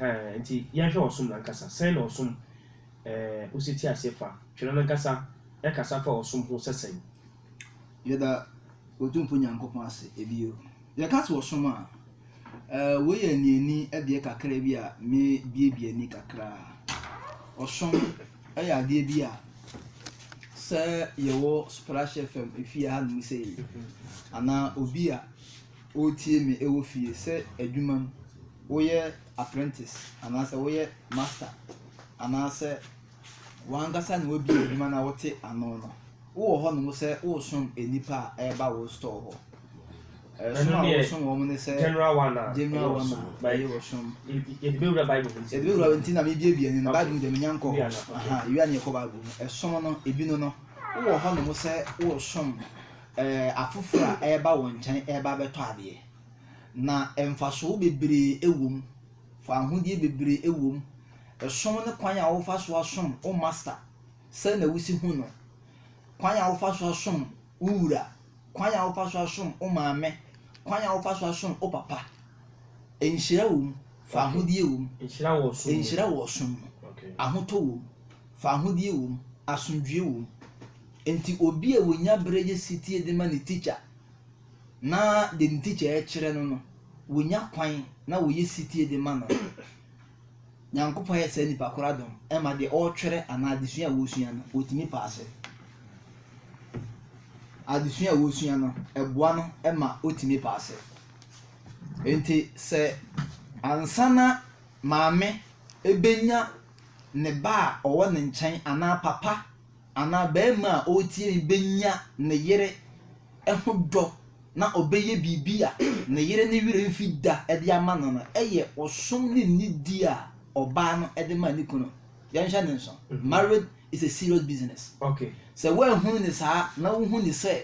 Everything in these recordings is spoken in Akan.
Ɛhɛɛ, enti yɛnhwɛ ɔsom no ankasa. Sɛn na ɔsom eh, osetie aseɛ fa? Twerɛ no ankasa kasa fa ɔsom ho sɛ sɛn? Yɛda Otumfo Nyankopɔn ase bio. Yɛka sɛ ɔsom a, eh, wei yɛ aniani adeɛ kakra bi a me biebie ani kakra. Ɔsom yɛ adeɛ bi a sɛ yɛwɔ Splash FM efie hanom sei, anaa obi a. woretie me wɔ fie sɛ adwuma mu, woyɛ apprentice anaasɛ woyɛ master anaasɛ w'ankasa na wabie adwuma na wote ano no, wowɔ hɔnom sɛ woresom nnipa a ɛreba wo store hɔ. Ɛsom a woresom wɔn ne sɛ general one a ɛyɛ wɔ som. Yɛde bɛwura Bible mu nti. Yɛde bɛwura nti na mebiebie ne no Bible mu deɛ menya nkɔ hɔ. Aha, yɛwia ne yɛkɔ Bible mu. Ɛsom no, ebi no no, wowɔ hɔnom sɛ woresom Afoforo a ɛreba wo nkyɛn reba abɛtɔ adeɛ, na mfasoɔ bebree wɔ mu, fawohodie bebree wɔ mu, ɛsom ne kwan a wofa so asom wo Master sɛ na wosi hu no, kwan a wofa so asom wo wura, kwan a wofa so asom wo maame, kwan a wofa so asom wo papa. Nhyira wɔ mu, fawohodie wɔ mu, nhyira wɔ ɔsom mu, ahotɔ wɔ mu, fawohodie wɔ mu, asomdwoeɛ wɔ mu. Enti obi a onya bere yɛ setie de ma ne tikya na de ne tikya rekyerɛ no no, wonya kwan na wɔyɛ setie de ma no. Nyankopɔn ayɛ saa nipa koro adom ma deɛ ɔretwerɛ anaa adesua a wɔresua no, wɔtumi paase. Adesua a wɔresua no, ɛboa no ma ɔtumi paase. Enti sɛ ansa na maame ɛbɛnya ne ba a ɔwɔ ne nkyɛn anaa papa anaa barima a ɔretie me bɛnya ne yere ho dɔ na ɔbɛyɛ biribi a ne yere ne werɛ mfi da de ama no no yɛ ɔsom ne nidi a ɔbaa no de ma ne kunu. Yɛnhwɛ ne nso. Mhm. Marriage is a serious business. Okay. Sɛ woanhunu ne saa na wohu ne sɛ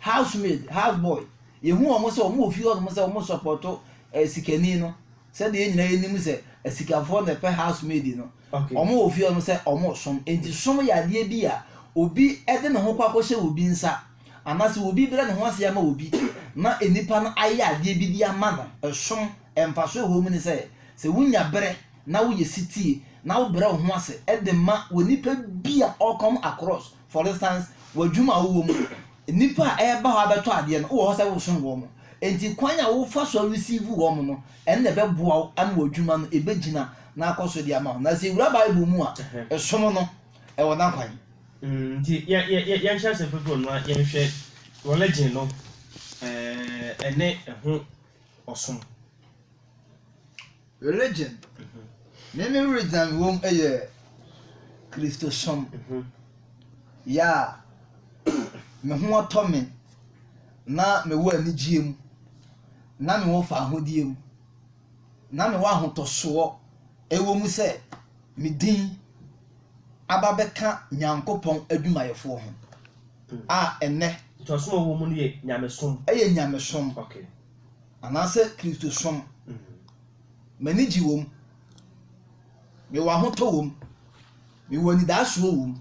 house maid, house boy, yɛhu wɔn sɛ wɔn wɔ fie hɔ nom sɛ wɔn sɔpɔto eh, sikani no. Sɛdeɛ yɛn nyinaa yɛnim sɛ asikafoɔ na ɛpɛ house maid no. Okay. Wɔn wɔ fie hɔ nom sɛ wɔn som. Nti som yɛ adeɛ bi a obi de ne ho kɔ akɔhyɛ obi nsa anaasɛ obi brɛ ne ho ase ama obi na nnipa no ayɛ adeɛ bi de ama no. Ɛsom mfaso ɛwɔ mu ne sɛ sɛ wonya berɛ na woyɛ sitie na wobrɛ wo ho ase de ma wɔ nipa bi a ɔkɔm across For instance, wɔ adwuma a wowɔ mu no, nnipa a ɛreba hɔ abɛtɔ adeɛ no, wowɔ hɔ sɛ wosom wɔn. Enti kwan a wofa so receive wɔn no, ɛno na ɛbɛboa wo ama w'adwuma no ɛbɛgyina na akɔ so de ama wo. Na sɛ yɛwura Bible mu a, som no, ɛwɔ n'akwan. Nti yɛnhyɛ aseɛ mprɛprɛ na yɛnhwɛ religion no ne ɛho. ɔsom. Religion, ne ne regyan wom yɛ Kristosom, yɛ a me ho tɔ me na mewɔ anigyeɛ mu, na mewɔ fawohodie mu, na mewɔ ahotɔsoɔ ɛwɔ mu sɛ me din aba bɛka Nyankopɔn adwumayɛfoɔ ho. a ɛnnɛ. Ntoasom a wɔwɔ mu no yɛ nyamesom. Ɛyɛ nyamesom. Okay. Anaasɛ Kristosom. Mm. M'ani gye wom. Mewɔ ahotɔ wom. Mewɔ anidaasoɔ wom.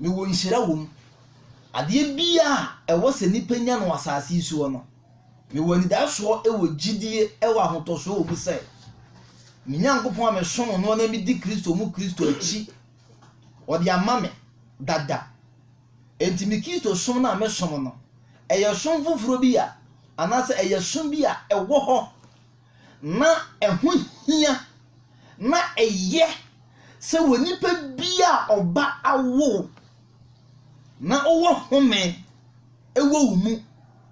Mewɔ nhyira wom. Adeɛ bia a ɛwɔ sɛ nipa nya no asase yi soɔ no, mewɔ anidaasoɔ wɔ gyidie wɔ ahotɔsoɔ wɔ mu sɛ, me Nyankopɔn a mesom no na medi Kristo mu Kristo akyi wɔde ama me dada. Enti me Kristo som no a mesom no, ɛyɛ som foforɔ bi a anaasɛ ɛyɛ som bi a ɛwɔ hɔ na ɛho hia na ɛyɛ sɛ wɔ nipa bi a ɔba awo na ɔwɔ home ɛwɔ wo mu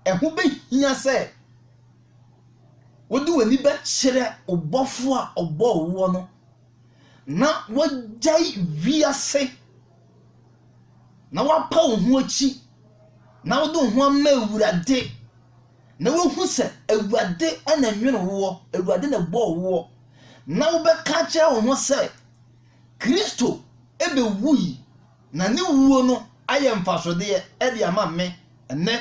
ɛho bɛhia sɛ wode w'ani bɛkyerɛ ɔbɔfo a ɔbɔ woɔ no na woagyae wiase na woapa wo ho akyi na wode wo ho ama Awurade na woahu sɛ Awurade na nwene woɔ, Awurade na bɔɔ woɔ na wobɛka kyerɛ wo ho sɛ Kristo bɛwui na ne wuo no ayɛ mfasodeɛ de ama me ɛnɛ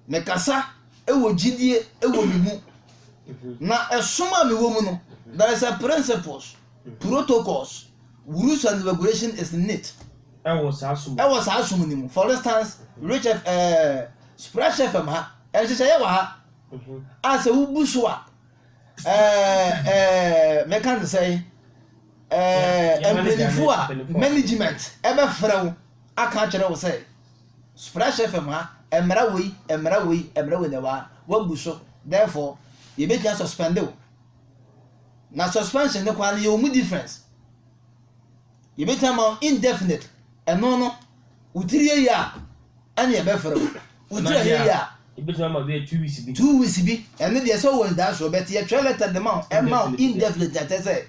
Mekasa wɔ gyidie wɔ me mu, na ɛsom a mewɔ mu no, there is a principles, protocols, rules and regulation is in it. Ɛwɔ saa som. Ɛwɔ saa som no mu. For instance, Rich F, ɛɛ, Splash FM ha, nhyehyɛeɛ wɔ ha, a sɛ wobu so a, ɛɛ, ɛɛ, mɛka ne sɛ, ɛɛ, mpanyinfo a management ɛbɛfrɛ wo aka akyerɛ wo sɛ. Splash FM ha, ɛmmra wei, ɛmmra wei, ɛmmra wei na ɛwɔ ha. Wɔabu so. Therefore, yɛbɛtumi asuspɛnde wo. Na suspension no koraa no, yɛwɔ mu difference. Yɛbɛtumi ama wo indefinite. Ɛno no, wo tiri yɛ yie a, ɛne yɛbɛfrɛ wo. Wo tiri ayɛ yie a, yɛbɛtumi ama bɛyɛ two weeks bi. Two weeks bi. Ɛno deɛ sɛ wowɔ anidasoɔ, but yɛtwerɛ letter de ma wo, ɛma wo indefinite na kyerɛ sɛ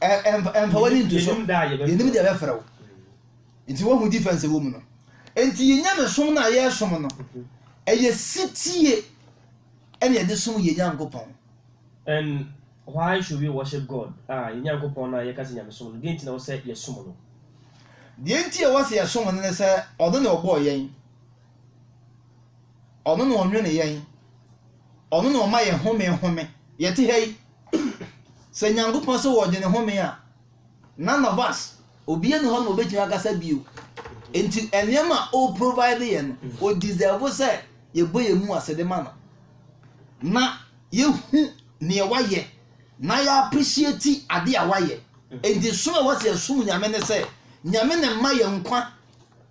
ɛmfa w'ani nto so. Yɛnim da a yɛbɛfrɛ wo. Nti wohu difference ɛwɔ mu no. Nti yɛ nyamesom no a yɛresom no, ɛyɛ sitie ɛna yɛde som yɛ Nyankopɔn. And why should we worship God? Ah, yɛ Nyankopɔn no a yɛka sɛ nyamesom no, deɛ nti na ɛwɔ sɛ yɛsom no? Deɛ nti a ɛwɔ sɛ yɛsom no ne sɛ ɔno na ɔbɔɔ yɛn, ɔno na ɔnwene yɛn, ɔno na ɔma yɛ home home. Yɛte ha yi, sɛ Nyankopɔn sɛ ɔredwene home a, None of us, obiara ni hɔ na obetumi akasa bio. Nti nneɛma a o provide yɛ no, mm. o deserve sɛ yɛbɔ yɛn mu ase de ma no. Na yɛhu nea wayɛ na yɛ appreciate ade a wayɛ. Mm. Nti som a wɔsɛ yɛsom Nyame ne sɛ, Nyame ne mma yɛ nkwa.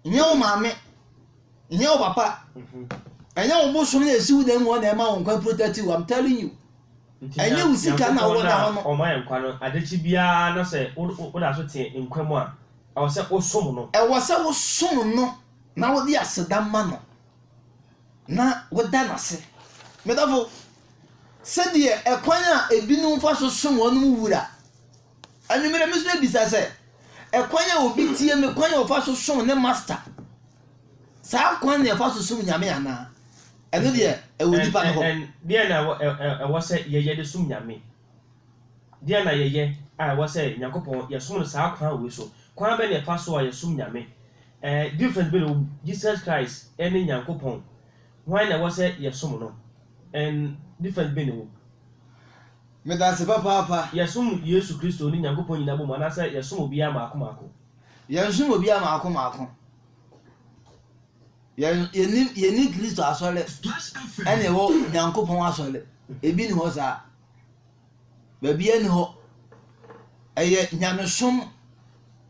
Nyɛ wo maame, nyɛ wo papa, ɛnyɛ mm-hmm. wo bosom na esiw dan mu hɔ na ɛma wo nkwa protective. I'm telling you. Nti Ɛnyɛ wo sika na wowɔ da hɔ no. Nyankopɔn no a ɔma yɛn nkwa no, ade kye biara na sɛ woda so te nkwa mu a, ɛwɔ sɛ wosom no. Ɛwɔ sɛ wosom no na wode aseda ma no na woda no ase. Me dɔfo, sɛdeɛ ɛkwan a ebinom fa so som wɔn Wura. Anwummerɛ me nso mebisa sɛ, ɛkwan a obi tie me kwan a ɔfa so som ne Master, saa kwan na ɛfa so som Nyame anaa? Ɛno deɛ, ɛwɔ Ɛn, nnipa no hɔ. ɛn, ɛn, deɛn na ɛwɔ, ɛ, ɛ, ɛwɔ sɛ yɛyɛ de som Nyame? Deɛn na yɛyɛ a ɛwɔ sɛ Nyankopɔn, yɛsom no saa kwan wei so? Kwan bɛn na yɛfa so a yɛsom Nyame? Ɛ, difference bɛn na ɛwɔ mu? Jesus Christ ne Nyankopɔn. Hwan na ɛwɔ sɛ yɛsom no? Ɛn, difference bɛn na ɛwɔ mu? Meda ase papaapa. Yɛsom Yesu Kristo ne Nyankopɔn nyina bɔ mu anaasɛ yɛsom obiara mmaako mmaako? Yɛnsom obiara mmaako mmaako. Yɛn yɛnim yɛni Kristo asɔre ɛna ɛwɔ Nyankopɔn asɔre ebi ni hɔ saa baabi ɛni hɔ ɛyɛ nyamesom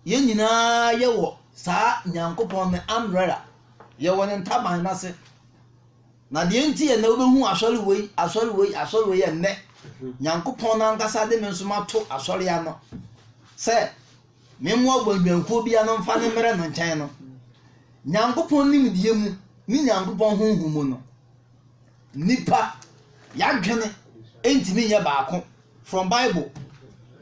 yɛn nyinaa yɛwɔ saa Nyankopɔn ne umbrella yɛwɔ ne ntaban n'ase na deɛ nti yɛ na wobɛhu asɔre wei asɔre wei asɔre wei yɛ nnɛ Nyankopɔn n'ankasa de me nso ma to asɔre ano sɛ. Me mmoa bɔ nnwankuo biara no mfa no mmrɛ no nkyɛn no, Nyankopɔn nimdeɛ mu ne Nyankopɔn honhom mu no, nipa yadwene ntumi nyɛ baako from Bible.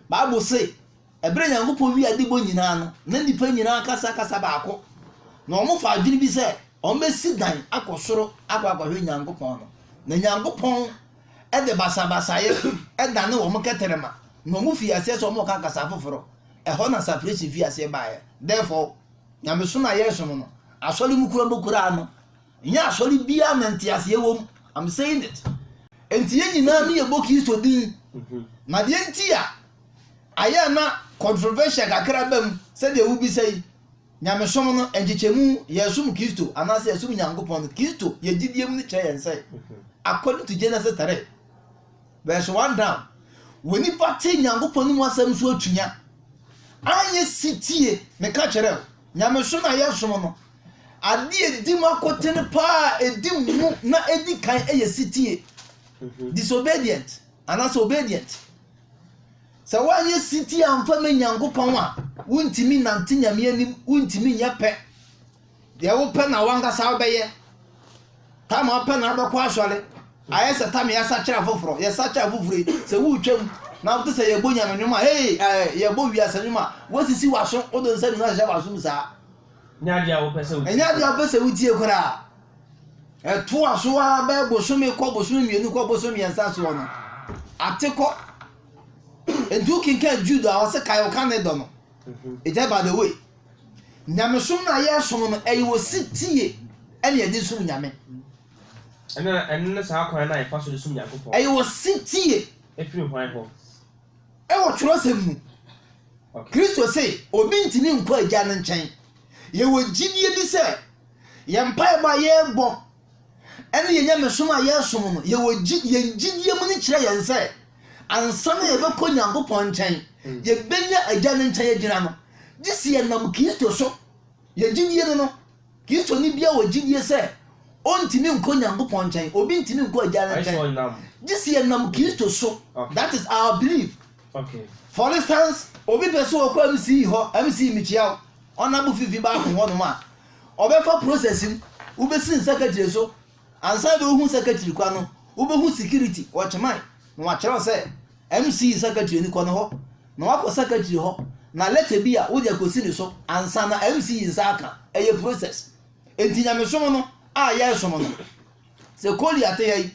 Bible se, ɛberɛ Nyankopɔn wie ade bɔ nyinaa no, na nipa nyinaa kasa kasa baako, na wɔn fa adwene bi sɛ wɔn bɛsi dan akɔ soro akɔ akɔhwɛ Nyankopɔn no, na Nyankopɔn de basabasayɛ danee wɔn kɛtrɛma, na wɔfii aseɛ sɛ wɔreka kasa afoforɔ. Ɛhɔ na sapresin fii aseɛ baeɛ. Therefore, nyamesom a yɛresom no, asɔre mu kura mokuraa no, nyɛ asɔre biara na nteaseɛ wɔ mu. I'm saying it. Enti yɛn nyinaa no yɛbɔ Kristo din. Mhm. Na deɛ nti a ayɛ na controversial kakra ba mu sɛdeɛ wobisa yi, Nyamesom no nkyekyɛmu, Yɛsom Kristo anaasɛ Yɛsom Nyankopɔn no, Kristo yɛ gyidie mu no kyerɛ yɛn sɛ, according to Genesis 3 verse 1 down, wɔ nipa te Nyankopɔn anim asɛm so atua, anyɛ sitie. Meka kyerɛ wo, Nyamesom no a yɛsom no, adeɛ ɛdi mu akoten paa, ɛdi mu na ɛdi kan yɛ sitie, disobedient anaasɛ obedient. Sɛ woanyɛ setie amfa ma Nyankopɔn a, wontumi nnante Nyame anim, wontumi nyɛ pɛ. Deɛ wopɛ na wankasa wobɛyɛ. Tam a wopɛ na wobɛkɔ asɔre. Ayɛ sɛ tam yɛasakyera foforɔ, yɛsakyera foforɔ yi, sɛ woretwam na wote sɛ yɛbɔ Nyame nnwom a, hey, eh, yɛbɔ wiase nnwom a, woasisi w'aso, wode nsa mmienu ahyehyɛ w'aso mu saa. Ɛnyɛ adeɛ a wopɛ sɛ wotie. Ɛnyɛ adeɛ a wopɛ sɛ wotie koraa. Ɛtoa so ara bɛyɛ bosome kɔ bosome mmienu kɔ bosome mmiɛnsa soɔ no, ate kɔ Enti wokenkan Jude a ɔse kae ɔka ne dɔ no. Agya by the way, nyamesom no a yɛresom no ɛyɛ osetie ɛna yɛde resom Nyame. Ɛno ɛno ne saa kwan no a yɛfa so de som Nyankopɔn. Ɛyɛ osetie. Ɛfiri hwan hɔ? Ɛwɔ twerɛsɛm mu. Okay. Kristo se obi ntumi nkɔ agya no nkyɛn. Yɛwɔ gyidie bi sɛ yɛn mpaebɔ a yɛrebɔ Ɛne yɛn nyamesom a yɛresom no, yɛwɔ gye, yɛn gyidie mu no kyerɛ yɛn sɛ, ansa na yɛbɛkɔ Nyankopɔn nkyɛn, yɛbɛnya agya no nkyɛn agyina no, gye sɛ yɛnam Kristo so. Yɛn gyidie no no, Kristoni biara wɔ gyidie sɛ ɔntumi nkɔ Nyankopɔn nkyɛn, obi ntumi nkɔ agya no nkyɛn, gye sɛ yɛnam Kristo so. That is our belief. Okay. For instance, obi pɛ sɛ ɔkɔ MC hɔ, MC Michiao, ɔnabo fifi baako hɔnom a, Ɔbɛfa process mu, wobɛsi ne secretary so, ansa na ɔhu secretary kwan no, wobɛhu security, watchman, na wakyerɛw sɛ MC secretary ni kɔ ne hɔ, na wakɔ secretary hɔ, na letter bi a wode akɔsi ne so, ansa na MC nsa aka, ɛyɛ process. Enti nyamesom no a yɛresom no, sɛ Collier te ha yi,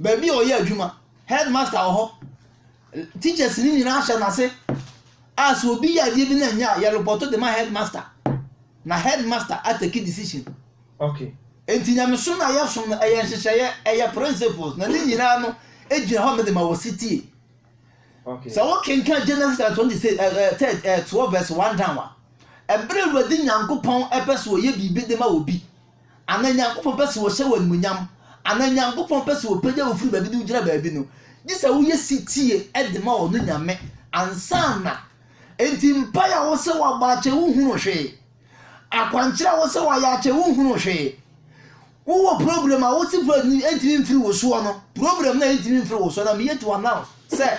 baabi a ɔyɛ adwuma, headmaster wɔ hɔ, teachers no nyinaa ahyɛ n'ase a sɛ obi yɛ adeɛ bi na ɛnyɛ a yɛrepɔto de ma headmaster na headmaster atake decision okay nti nyamesom na yɛsom no ɛyɛ nhyehyɛeɛ ɛyɛ principles na ne nyinaa no gyina hɔ mede ma wɔ sitie okay sɛ wokenka genesis chapter 20 sɛ ɛɛ 12 verse 1 down a ɛberɛ awurade nyankopɔn ɛpɛ sɛ ɔyɛ biribi de ma obi anaa Nyankopɔn pɛ sɛ ɔhyɛ wo animuonyam, anaa Nyankopɔn pɛ sɛ ɔpagya wo firi baabi de wo gyina baabi no, gye sɛ woyɛ setie de ma ɔno Nyame ansa na. Enti mpae a wosɛ wabɔ akyɛ wo nhunu hwee, akwankyerɛ a wosɛ wayɛ akyɛ wo nhunu hwee. Wowɔ problem a wose problem no ɛntumi mfiri wo soɔ no, problem no a ɛntumi mfiri wo soɔ no, I'm here to announce sɛ,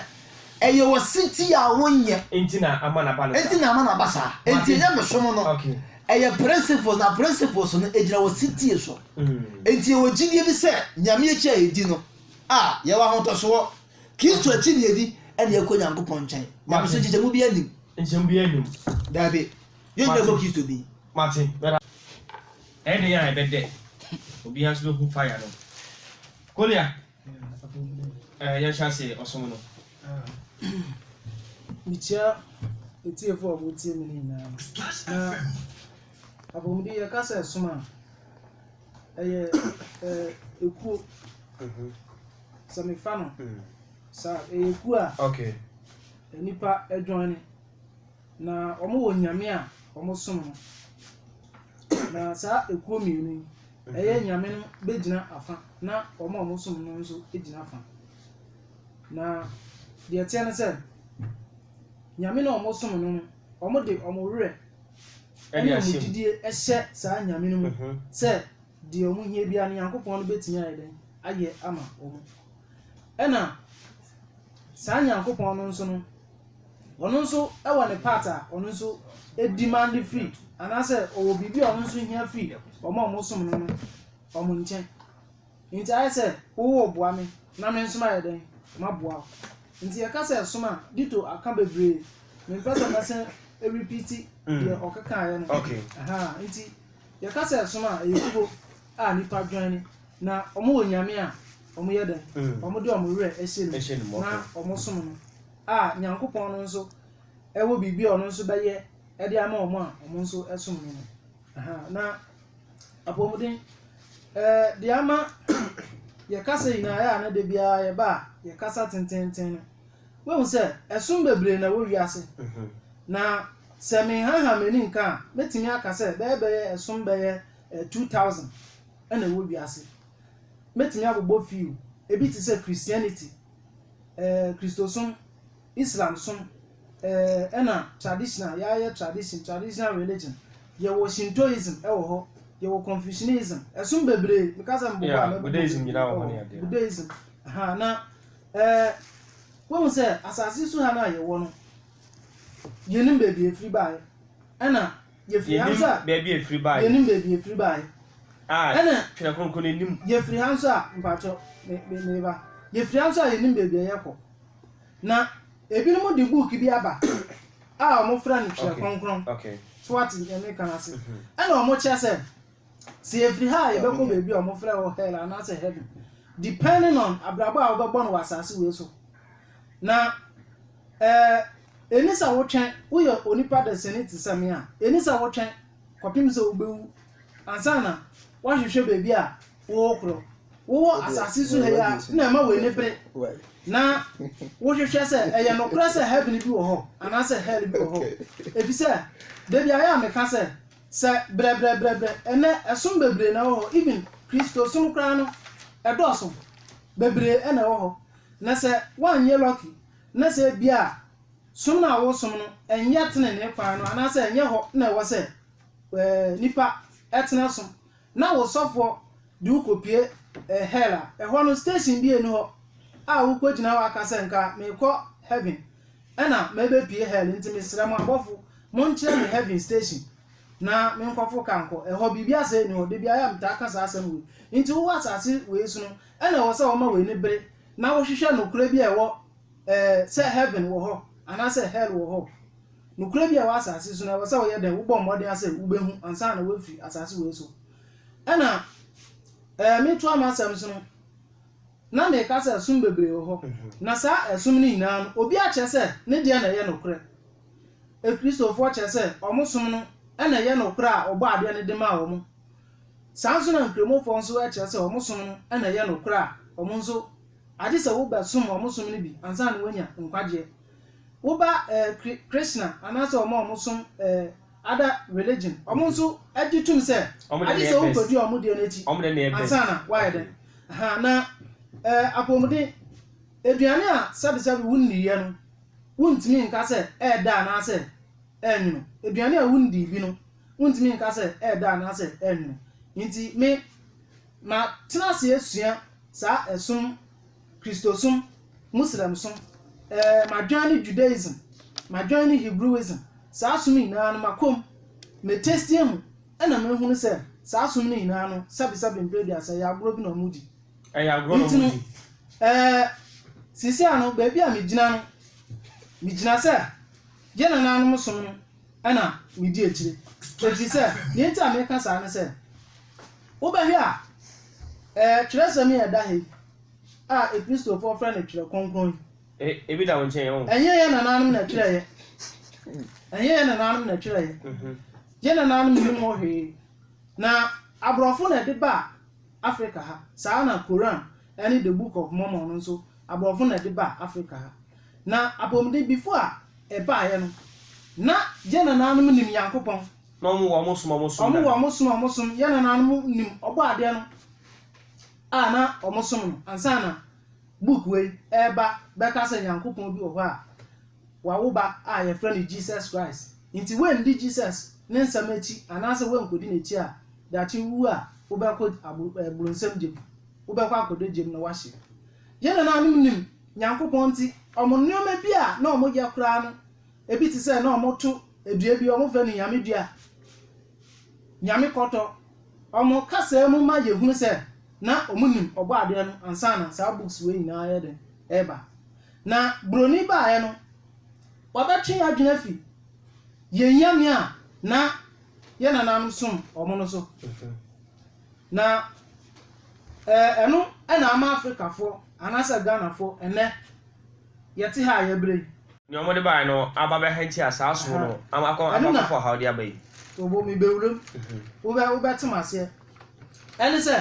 Ɛyɛ ɔsetie a wonyɛ. Enti na ama n'aba no saa. Enti na ama n'aba saa. Enti anyamesom no, ɛyɛ principles, na principles no, egyina ɔsetie so. Enti yɛwɔ gyidie bi sɛ Nyame akyi a yɛdi no, a yɛwɔ ahotɔsoɔ. Kristo akyi na yɛdi, ɛna yɛkɔ Nyankopɔn nkyɛn. Nyamesom nkyekyɛmu biara nnim. Nkyekyɛmu biara nnim. Daabi. Yɛn nyinaa bɔ Kristo din. Mate. Ɛyɛ dɛn a ɛbɛdɛ? Obiara nso bɛhu fire no. Kolia. Eh, yɛhyɛ ase ɔsom no mekyia atiefo a wɔtie me no nyinaa na apɔmuden yɛka sɛ som a ɛyɛ ekuo mhm. sɛ mefa no mm. sa ɛyɛ kuo a nipa adwane Na wɔwɔ nyame a wɔsom no. Na saa ekuo mmienu yi, ɛyɛ nyame no bɛgyina afa, na wɔn a wɔsom no nso gyina afa. Na deɛ ɛteɛ ne sɛ, nyame no a wɔsom no no, wɔde wɔn werɛ ne wɔn gyidie hyɛ saa nyame no mu sɛ, deɛ wɔn hia biara no Nyankopɔn no bɛtumi ayɛ dɛn ayɛ ama wɔn ɛna saa Nyankopɔn no nso no ɔno nso ɛwɔ ne part a ɔno nso demand free anaasɛ ɔwɔ biribi a ɔno nso hia free wɔn a wɔn som no no wɔn nkyɛn nti ayɛ sɛ wowɔ boa me na me nso ayɛ dɛn ma boa wo nti yɛka sɛ ɛsom a dito aka bebree mempɛ sɛ mɛsɛ ɛrepiti deɛ ɔkekaeɛ no okay. Aha, nti Yɛka sɛ som a, ɛyɛ kuo a nnipa joine na wɔwɔ Nyame a wɔn yɛ dɛn? Wɔn de wɔn werɛ hyɛ ne mu na wɔn som no a Nyankopɔn no nso wɔ biribi a ɔno nso bɛyɛ de ama wɔn a wɔn nso som no no. Ahaa, na apɔmuden eh, de ama yɛ kasa nyinaa yɛ a na da biara yɛba a yɛ kasa tententen no. Woahu sɛ ɛsom bebree na ɛwɔ wiase, na sɛ menhaahaa m'ani nka a, mɛtumi aka sɛ bɛyɛ bɛyɛ ɛsom bɛyɛ 2,000 na ɛwɔ wiase. Mɛtumi abobɔ few, ebi te sɛ Christianity, eh, Kristosom, Islamsom, eh, ɛna traditional, yɛayɛ tradition, traditional religion. Yɛwɔ Shintoism wɔ hɔ, yɛwɔ Confucianism, ɛsom bebree, meka sɛ mebobɔ a, mɛbobɔ bebree, Buddhism, aha, na Ɛɛ, woahu sɛ asase so ha no a yɛwɔ no, yenim baabi a efiri bae, ɛnna yefiri ha nso a. Yenim baabi a efiri bae. Yenim baabi a efiri bae. A, ɛnna Twerɛ Kronkron no nim. Yefiri ha nso a, mpakyɛw, me, me, meba. Yefiri ha nso a yenim baabi a yɛkɔ. Na ebinom de book bi aba a wɔfrɛ no Twerɛ Kronkron. Okay, okay. So wate nea meka no ase? Ɛnna wɔkyerɛ sɛ Sɛ yɛfiri ha a, yɛbɛkɔ baabi a wɔfrɛ hɔ hell anaasɛ heaven, depending on abrabɔ a wobɛbɔ no wɔ asase wei so. Na ɛɛ ɛni sɛ wotwɛn woyɛ onipa dasani te sɛ me a, ɛni sɛ wotwɛn kɔpem sɛ wobɛwu ansa na woahwehwɛ baabi a wokorɔ. Wowɔ asase so ha yi a na ɛma w'ani bere na wohwehwɛ sɛ ɛyɛ nokorɛ sɛ heaven bi wɔ hɔ anaasɛ hell bi wɔ hɔ. Ɛfiri sɛ, da bi ayɛ a meka sɛ Sɛ brɛbrɛbrɛbrɛ, ɛnɛ ɛsom bebree na ɛwɔ hɔ, even Kristosom koraa no, ɛdɔɔso, bebree na ɛwɔ hɔ, na sɛ woanyɛ lucky na sɛ ebia som no a woresom no ɛnyɛ tenenee kwan no anaasɛ ɛnyɛ hɔ na ɛwɔ sɛ nnipa tena som, Na wo sɔfoɔ de wo kɔpue hell a, ɛhɔ no station biara nni hɔ a wokɔgyina hɔ aka sɛ nka merekɔ heaven ɛna mɛbɛpue hell nti mesrɛ mo abɔfo monkyerɛ me heaven station na me nkɔfo ka nkɔ ɛhɔ biribi asɛ nni hɔ dabi ayɛ a metaa ka saa asɛm wei nti wowɔ asase wei so no ɛna ɛwɔ sɛ wɔma w'ani bere na wohwehwɛ nokorɛ bi a ɛwɔ ɛɛ sɛ heaven wɔ hɔ anaasɛ hell wɔ hɔ. Nokorɛ bi a ɛwɔ asaase so no ɛwɔ sɛ woyɛ dɛn, wobɔ mmɔden ara sɛ wobɛhu ansa na woafiri asaase wei so. Ɛna ɛɛ metoa m'asɛm so no, na meka sɛ ɛsom bebree wɔ hɔ, na saa ɛsom no nyinaa no, obi akyerɛ sɛ ne deɛ na ɛyɛ nokorɛ. Akristofoɔ kyerɛ sɛ wɔn som no na ɛyɛ nokorɛ a Ɔbɔɔ adeɛ no de maa wɔn. Saa nso na Nkramofoɔ nso kyerɛ sɛ wɔn som no na ɛyɛ nokorɛ a wɔn nso, agye sɛ wobɛsom wɔn som no bi ansa na woanya nkwagyeɛ. Wo ba Krishna anaasɛ wɔn a wɔsom other religion, wɔn nso gye tom sɛ agye sɛ wokɔdi wɔn deɛ no akyi ansa na woayɛ dɛn? Ahaa, na apɔmuden, aduane a sɛbesɛbe wonniiɛ no, wontumi nka sɛ ɛyɛ dɛ anaasɛ ɛyɛ nwono. Aduane a wonnii bi no, wontumi nka sɛ ɛyɛ dɛ anaasɛ ɛyɛ nwono. Enti me, matena ase asua saa ɛsom. Kristosom, Muslimsom, eh, madwan ne Judaism, madwan ne Hebrewism, saa som nyinaa no makɔ mu, me taste ahu, ɛna mahunu sɛ saa som no nyinaa no sɛbesɛbe mprɛ aduasa ɛyɛ agorɔ bi na ɔmo di. Ɛyɛ agorɔ na ɔmo di. Eh, seesei a no baabi a megyina no, megyina sɛ yɛn nanaanom som no na medi akyire. Ɛfiri sɛ, deɛ nti a meka saa ne sɛ, wobɛhwɛ a, ɛɛ twerɛsɛm yi a ɛda ha yi a Akristofoɔ frɛ no Twerɛ Kronkron yi, Ebi da wo nkyɛn ɔn. ɛnyɛ yɛn nananom na ɛtwerɛeɛ. Ɛnyɛ yɛn nananom na ɛtwerɛeɛ. Yɛn nananom nnim ho hwee. Na aborɔfo na ɛde baa Afrika ha. Saa ara na Koran ne The Book of Mormon no nso, aborɔfo na ɛde baa Afrika ha. Na apɔmudembifo a ɛbaeɛ no, na yɛn nanaanom nim Nyankopɔn. Na wɔn wɔ wɔn som a wɔsom dada. Wɔn wɔ wɔn som a wɔsom, yɛn nanaanom nim Ɔbɔadeɛ no a na wɔsom no ansa na book wei reba bɛka sɛ Nyankopɔn bi wɔ hɔ a wawo ba a yɛfrɛ no Jesus Christ. Nti woanndi Jesus ne nsɛm akyi anaasɛ woankɔdi n'akyi a, daakye wowu a wobɛkɔ abro ɛɛ bronsam gya mu. Wobɛkɔ akɔdɔ gya mu na woahye. Yɛn nanaanom nim. Nyankopɔn nti, wɔn nnoɔma bi a na wɔn yɛ koraa no, ebi te sɛ na wɔn to dua bi, wɔn frɛ no Nyame dua, Nyame kɔtɔ. Wɔn kasaa mu ma yɛ hunu sɛ na wɔn nim ɔbɔ adeɛ no ansa na saa books wei nyinaa yɛ den ɛɛba. Na broni baeɛ no, wabɛ twe yɛ adwene afi yɛ Nyame a na yɛ nananom som wɔn no so. Na ɛno na ama Afrikafoɔ anaasɛ Ghanafoɔ ɛnnɛ yɛte ha a yɛbrɛ yi. Nea wɔde baeɛ no aba bɛhantia saa som no ama akɔ ama akɔfa ɔhaw de aba yi. Obo mebɛwura mu, wobɛ wobɛte m'aseɛ. Ɛne sɛ,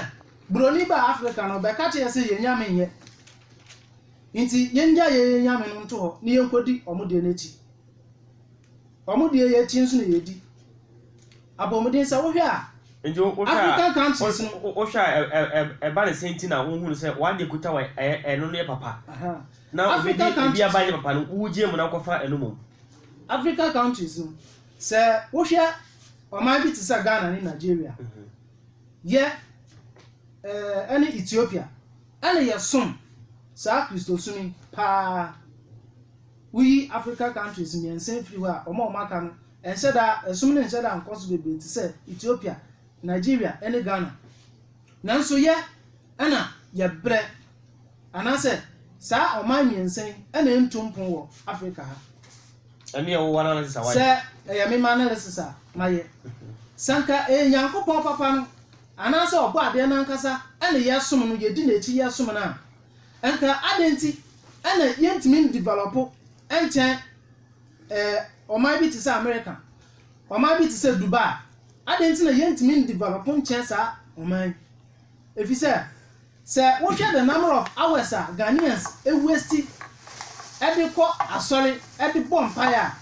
Buroni baa Afrika no, ɔbɛka kyerɛ yɛ sɛ yɛn nyame nyɛ. Nti yɛngyae yɛn yɛn nyame no nto hɔ na yɛnkɔdi wɔn deɛ no akyi. Wɔn deɛ yɛ akyi nso na yɛdi. Abɔmuden sɛ wohwɛ a Nti wo wohwɛ a African countries wo- no. wo- wohwɛ a ɛ- ɛ- ɛ- ɛba ne sɛ nti na wohu no sɛ w'adeɛ kuta wɔ ɛyɛ ɛno no yɛ papa Aha. na obi African de ebi countries aba no. nyɛ papa no wogye mu na wokɔfa ɛno mmom Africa countries no sɛ wohwɛ ɔman bi te sɛ Ghana ne Nigeria yɛ eh, ɛne Ethiopia ɛne yɛsom saa Kristosom yi paa Woyi Africa countries mmiɛnsa firi hɔ a, wɔn a wɔaka no, ɛnhyɛ da, ɛsom no nhyɛ da nkɔ so bebree te sɛ Ethiopia, Nigeria ne Ghana. Nanso yɛ na yɛbrɛ, anaasɛ saa ɔman mmiɛnsa yi na ɛntu mpon wɔ Africa ha. Ɛneɛ wo analysis a wayɛ. Sɛ ɛyɛ me m'analysis a mayɛ, sɛ anka ɛyɛ Nyankopɔn papa no, anaasɛ ɔbɔ adeɛ no ankasa na yɛsom no, yɛdi n'akyi yɛsom no a, Anka adɛn nti na yɛntumi ndevelɔpo nkyɛn ɛɛ ɔman bi te sɛ Amerika, ɔman bi te sɛ Dubai? Adɛn nti na yɛntumi ndevelɔpo nkyɛn saa ɔman yi? Efisɛ sɛ wohwɛ the number of hours a Ghanaians waste de kɔ asɔre de bɔ mpaeɛ a,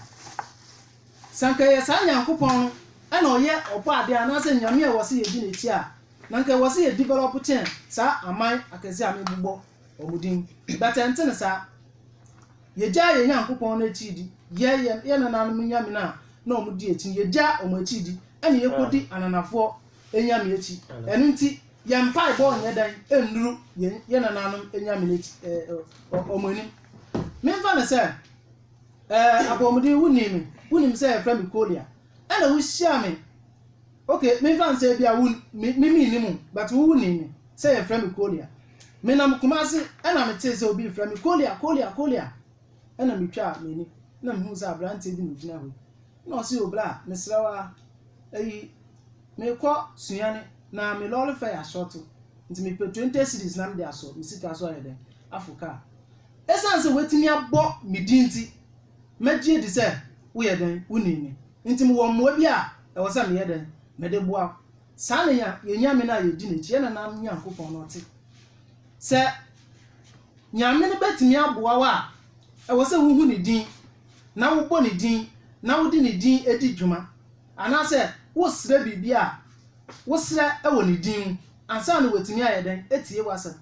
sɛ anka ɛyɛ saa Nyankopɔn no na ɔyɛ Ɔbɔadeɛ anaasɛ Nyame a ɛwɔ sɛ yɛdi n'akyi a, Na anka ɛwɔ sɛ yɛ develop kyɛn saa aman akɛseɛ a mebobɔ wɔn din yi, but ɛnte no saa. Yɛgyaa yɛn Nyankopɔn no akyiri di, yɛn yɛn yɛn nananom nyame no a na wɔn di akyi no, yɛgyaa wɔn akyiri di, ɛna yɛkɔdi ananafoɔ anyame akyi. Ɛno nti, yɛn mpaebɔ nyɛ dan nnuru yɛn yɛn nananom anyame no akyi, ɛɛ, ɔ- wɔn anim. Memfa no sɛ, ɛɛ, apɔmuden, wonim me, wonim sɛ yɛfrɛ me Kolia, ɛna wohyiaa me Ok, menfa nsɛ ebia wo me me menni mo but wo wo nim me sɛ yɛfrɛ me Kolia. Menam Kumasi ɛna metee sɛ obi refrɛ me Kolia Kolia Kolia ɛna metwaa m'ani na mehuu sɛ aberanteɛ bi na ogyina hɔ yi na ɔse o bra mesrɛ wo ara ɛyi mekɔ Sunyani na me lɔre fare asɔɔto nti mepɛ 20 cedis na mede asɔ me sika so ayɛ dɛn afo kaa. Ɛsiane sɛ watumi abɔ me din nti Megye adi sɛ woyɛ dɛn? Wunim me, enti mewɔ mmoa bi a ɛwɔ sɛ meyɛ dɛn? Mede boa wo. Saa na yɛn Nyame no a yedi n'akyi, yɛn nenam Nyankopɔn no te. Sɛ Nyame no betumi aboa wo a, ɛwɔ sɛ wuhu ne din, na wobɔ ne din, na wode ne din di dwuma. Anaasɛ wosrɛ biribi a, wosrɛ wɔ ne din mu, Ansa na wɔatumi ayɛ dɛn atie w'asɛm?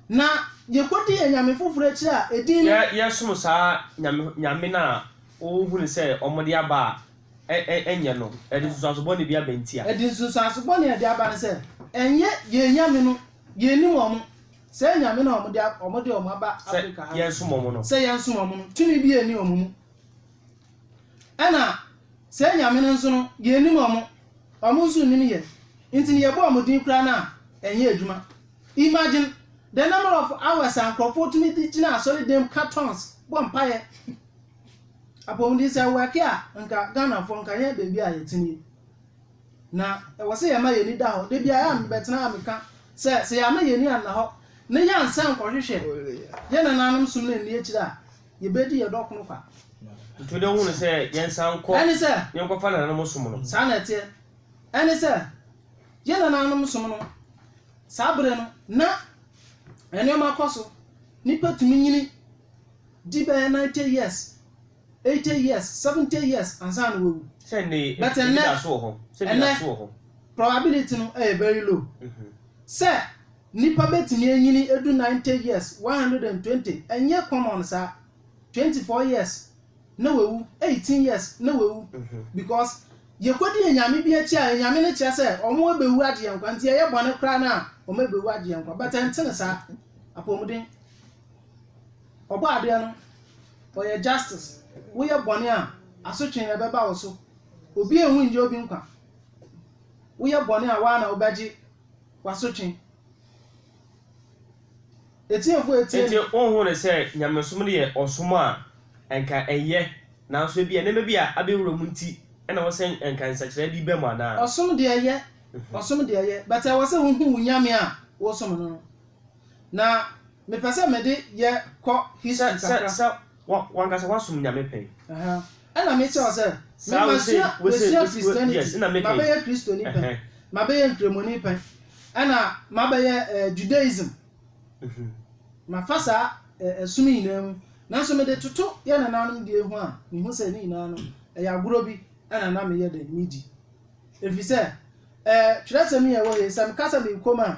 Na yɛkɔdi anyame foforɔ akyiri a, edin. Yɛsom saa nyame nyame no a wohunu sɛ wɔde aba a, ɛ ɛ ɛnyɛ no. Ɛde nsunsuanso bɔne bi aba nti a. Ɛde nsunsuanso bɔne a ɛde aba ne sɛ, ɛnyɛ yɛn nyame no, yɛnnim wɔn. Saa anyame no a wɔde wɔn aba Afrika ha no, sɛ yɛnsom wɔn no, tumi biara nni wɔn mu. Ɛna saa anyame no nso no, yɛnnim wɔn, wɔn nso nnim yɛn, nti no yɛbɔ wɔn din koraa no a, ɛnyɛ adwuma. Imagine the number of hours a nkurɔfoɔ tumi de gyina asɔredan mu ka tongues bɔ mpaeɛ. Apɔmuden sɛ work a, nka Ghanafoɔ nka nyɛ baabi a yɛte nie. Na ɛwɔ sɛ yɛma yɛn ani da hɔ. Da biara a mebɛtena a meka sɛ sɛ yɛama yɛn ani anna hɔ na yɛansan nkɔhwehwɛ yɛn nananom som no anni akyire a, Yebedi yɛn dɔ koro kwa. Nto dɛ hu no sɛ yɛnsan nkɔ. Ɛne sɛ. Yɛnkɔfa nananom som no. Saa na ɛteɛ. Ɛne sɛ, yɛn nananom som no, saa bere no, na nneɛma kɔ so. Nnipa tumi nyini di bɛyɛ ninety years, eighty years, seventy years ansa na wɔawu. Sɛ nnɛ yi, ebi da so wɔ hɔ. Sɛ ebi da so wɔ hɔ. Ɛnnɛ, probability no yɛ very low sɛ. Nipa bɛtumi anyini adu ninety years, one hundred and twenty, ɛnyɛ common saa, twenty four years na wawu, eighteen years na wawu, because yɛkɔdi anyame bi akyi a anyame no kyerɛ sɛ wɔn abɛwu agye yɛn nkwa, nti ɛyɛ bɔne koraa no a wɔn abɛwu agye yɛn nkwa, but ɛntene saa, apɔmuden. Ɔbɔ adeɛ no, ɔyɛ justice, woyɛ bɔne a, asotwee na ɛbɛba wo so, obi anwu nnyɛ obi nkwa, woyɛ bɔne a, wo ara na wobɛgye. w'asotwe. Atiefo a etie no. Enti wonhunuu sɛ nyamesom no yɛ ɔsom a anka ɛnyɛ, nanso ebia nneɛma bi a abɛwura mu nti na ɛwɔ sɛ anka nsakyeraɛ bi ba mu anaa? Ɔsom deɛ ɛyɛ, ɔsom deɛ ɛyɛ, but ɛwɔ sɛ wohu wo Nyame a wosom no no. Na mepɛ sɛ mede yɛ kɔ history kakra. Sɛ Wo w'ankasa w'asom Nyame pɛn? Ɛna me kyerɛ wo sɛ, me masua, masua Christianity, mabɛyɛ Kristoni pɛn, mabɛyɛ Nkremoni pɛn, ɛna mabɛyɛ eh, Judaism, mafa saa eh, ɛsom nyinaa mu, nanso mede toto yɛ nananom deɛ ho a, mehu sɛ ne nyinaa no, ɛyɛ agorɔ bi ɛna na meyɛ dɛn, medi. Ɛfiri sɛ, eh, twerɛsɛm yi a ɛwɔ hei, sɛ meka sɛ mekɔ mu a,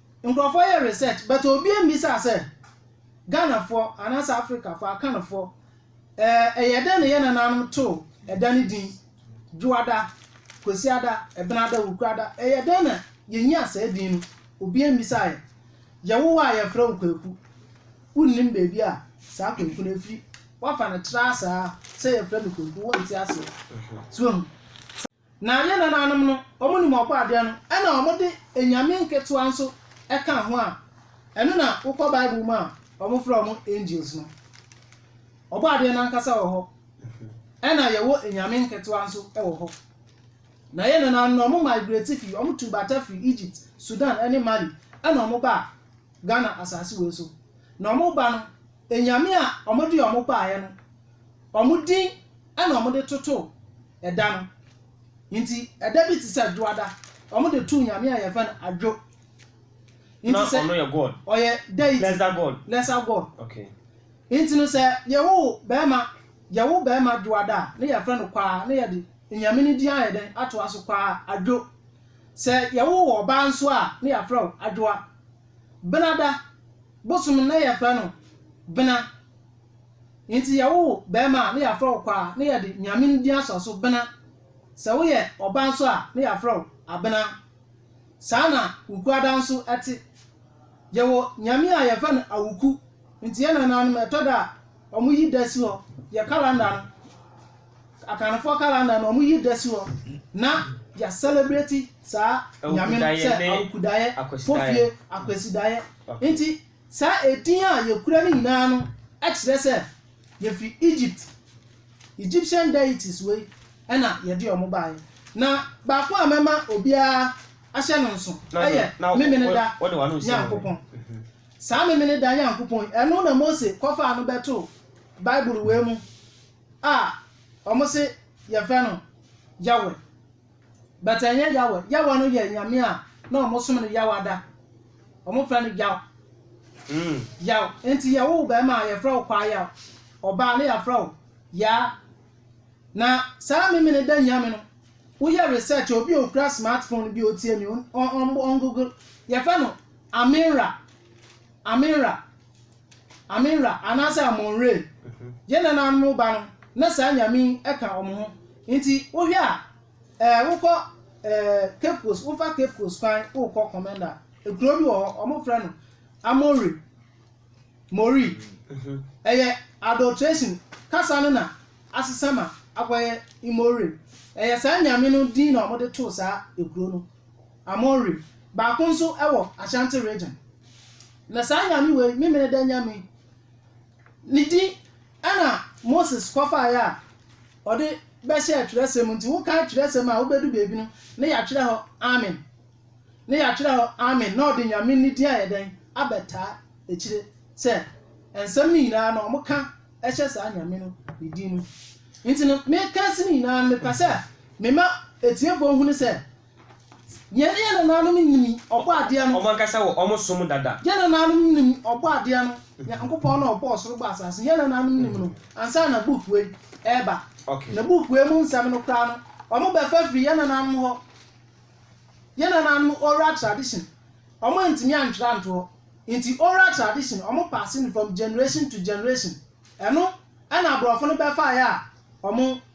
Nkurɔfoɔ yɛ research but obi ambisaa sɛ Ghanafoɔ anaasɛ Africafoɔ, Akanfoɔ, ɛɛ ɛyɛ dɛn na yɛ nanaanom too ɛda no din Dwoada, Kwasiada, Ɛbenada, Wukurada, ɛyɛ dɛn na yɛnyaa saa din no, obi ambisaa yɛ. Yɛwo wo a yɛfrɛ wo Kwaku, wonnim baabi a saa Kwaku no afiri, woafa no traa saa sɛ yɛfrɛ me Kwaku, wonte aseɛ. So wahu? Na yɛn nananom no, wɔnim Ɔbɔadeɛ no, ɛnna wɔde anyame nketewa nso ka ho a, ɛno na wokɔ Bible mu a, wɔfrɛ wɔn angels no. Ɔbɔadeɛ no ankasa wɔ hɔ, ɛnna yɛwɔ anyame nketewa nso wɔ hɔ. Na yɛn nananom no, wɔmigrate fii, wɔtuu bata fii Egypt, Sudan ne Mali, ɛnna wɔbaa Ghana asase wei so. Na wɔn ba no, anyame a wɔde wɔn baeɛ no, wɔn din na wɔde totoo ɛda no. Nti ɛda bi te sɛ adwoada. Wɔde too nyame a yɛfrɛ no adwo. Na Nti sɛ ɔno yɛ God. ɔyɛ deity, Lesser God. lesser god. Okay. Nti no sɛ yɛwo bɛrima, yɛwo bɛrima dwoada a, na yɛfrɛ no kwaa, na yɛde anyame no din ayɛ dɛn atoa so, kwaa adwo. Sɛ yɛwo wo ɔbaa nso a na yɛafrɛ wo Adwoa. Benada bosom no na yɛfrɛ no Bena. Enti yɛwo wo barima a na yɛafrɛ wo Kwaa na yɛde Nyame no din asɔ so, Bena. Sɛ woyɛ ɔbaa nso a na yɛafrɛ wo Abena. Saa na Wukuada nso te. Yɛwɔ Nyame a yɛfrɛ no Awuku. Enti yɛn nananom ɛtɔ da a wɔyi da si hɔ, yɛ kalanda no. Akanfoɔ calendar no wɔn yi da si hɔ na yɛ celebrate saa nyame no sɛ awukudaeɛ fofie akwasidaeɛ nti saa edin a yɛkura no nyinaa no kyerɛ sɛ yɛfiri egypt egyptian deities wei ɛna yɛde wɔn baeɛ na baako a mɛma obiara ahyɛ no nso ɛyɛ memene da nyankopɔn mhm. saa memene da nyankopɔn ɛno na mose kɔfaa no bɛto bible wei mu a wɔn se yɛfrɛ no Yahweh but ɛnyɛ Yahweh Yahweh no yɛ nyame a na wɔn som no Yawada wɔn frɛ no Yaw mm. Yaw nti yɛwo wo bɛrima a yɛfrɛ wo Kwaa Yaw ɔbaa ne yɛafrɛ wo Yaa na saa mimi no da nyame no woyɛ research obi okura smartphone bi otie mi on on google yɛfrɛ no Aminra Aminra Aminra anaasɛ Amonre yɛ nananom ba no na saa nyame yi ka wɔn ho. Nti wohwɛ a ɛɛ wokɔ ɛɛ Cape Coast wofa Cape Coast kwan wokɔ Kɔmɛnda ekuro bi wɔ hɔ wɔn frɛ no Amori Mori mhm. ɛyɛ adulteration kasa no na asesa ma akɔyɛ Imore ɛyɛ saa nyame no din na wɔde too saa ekuro no. Amon Re, baako nso wɔ Ashanti Region. Na saa Nyame wei, Memeneda Nyame, ne din na Moses kɔfaeɛ a ɔde bɛhyɛɛ twerɛsɛm mu nti wokan twerɛsɛm a wobɛdu baabi no na yɛatwerɛ hɔ Amen, na yɛatwerɛ hɔ Amen na ɔde Nyame ne din ayɛ dɛn? abɛtaa akyire sɛ nsɛm no nyinaa no wɔka hyɛ saa Nyame no ne din mu. Nti no meka ase no nyinaa no mepɛ sɛ mema atiefoɔ hunu sɛ Yɛne yɛn nananom nnim Ɔbɔadeɛ no. Wɔn ankasa wɔ wɔn som dada. Yɛn nananom nnim Ɔbɔadeɛ no, Nyankopɔn no a ɔbɔɔ soro bɔɔ asase no. Yɛn nananom nnim no ansa na book wei reba. Na book wei mu nsɛm no koraa no, wɔbɛfa afiri yɛn nananom hɔ, yɛn nananom oral tradition. Wɔantumi antwerɛ anto hɔ. Nti oral tradition, wɔpaase no from generation to generation. Ɛno na aborɔfo no bɛfaeɛ a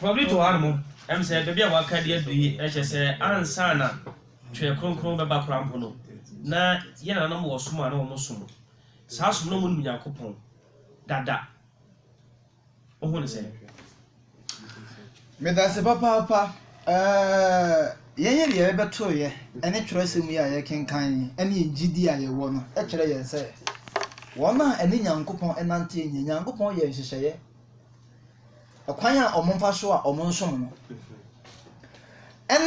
Wɔde reto hɔ ara no, ɛwom sɛ baabi a wɔaka de adu yi kyerɛ sɛ ansa na Twere Kronkron no bɛba koraa mpo no, na yɛn nananom wɔ som a na wɔsom. Saa som no, na wɔnim Onyankopɔn dada. Wohu no sɛn? Meda ase papaapa. Yɛn yere yɛ bɛbɛto yɛ ne twerɛsɛm yi a yɛkenkan ne yɛn gyidie a yɛwɔ no kyerɛ yɛn sɛ wɔn a ɛne Nyankopɔn nanteɛ nyɛ Nyankopɔn yɛ nhyehyɛeɛ kwan a wɔfa so a wɔsom no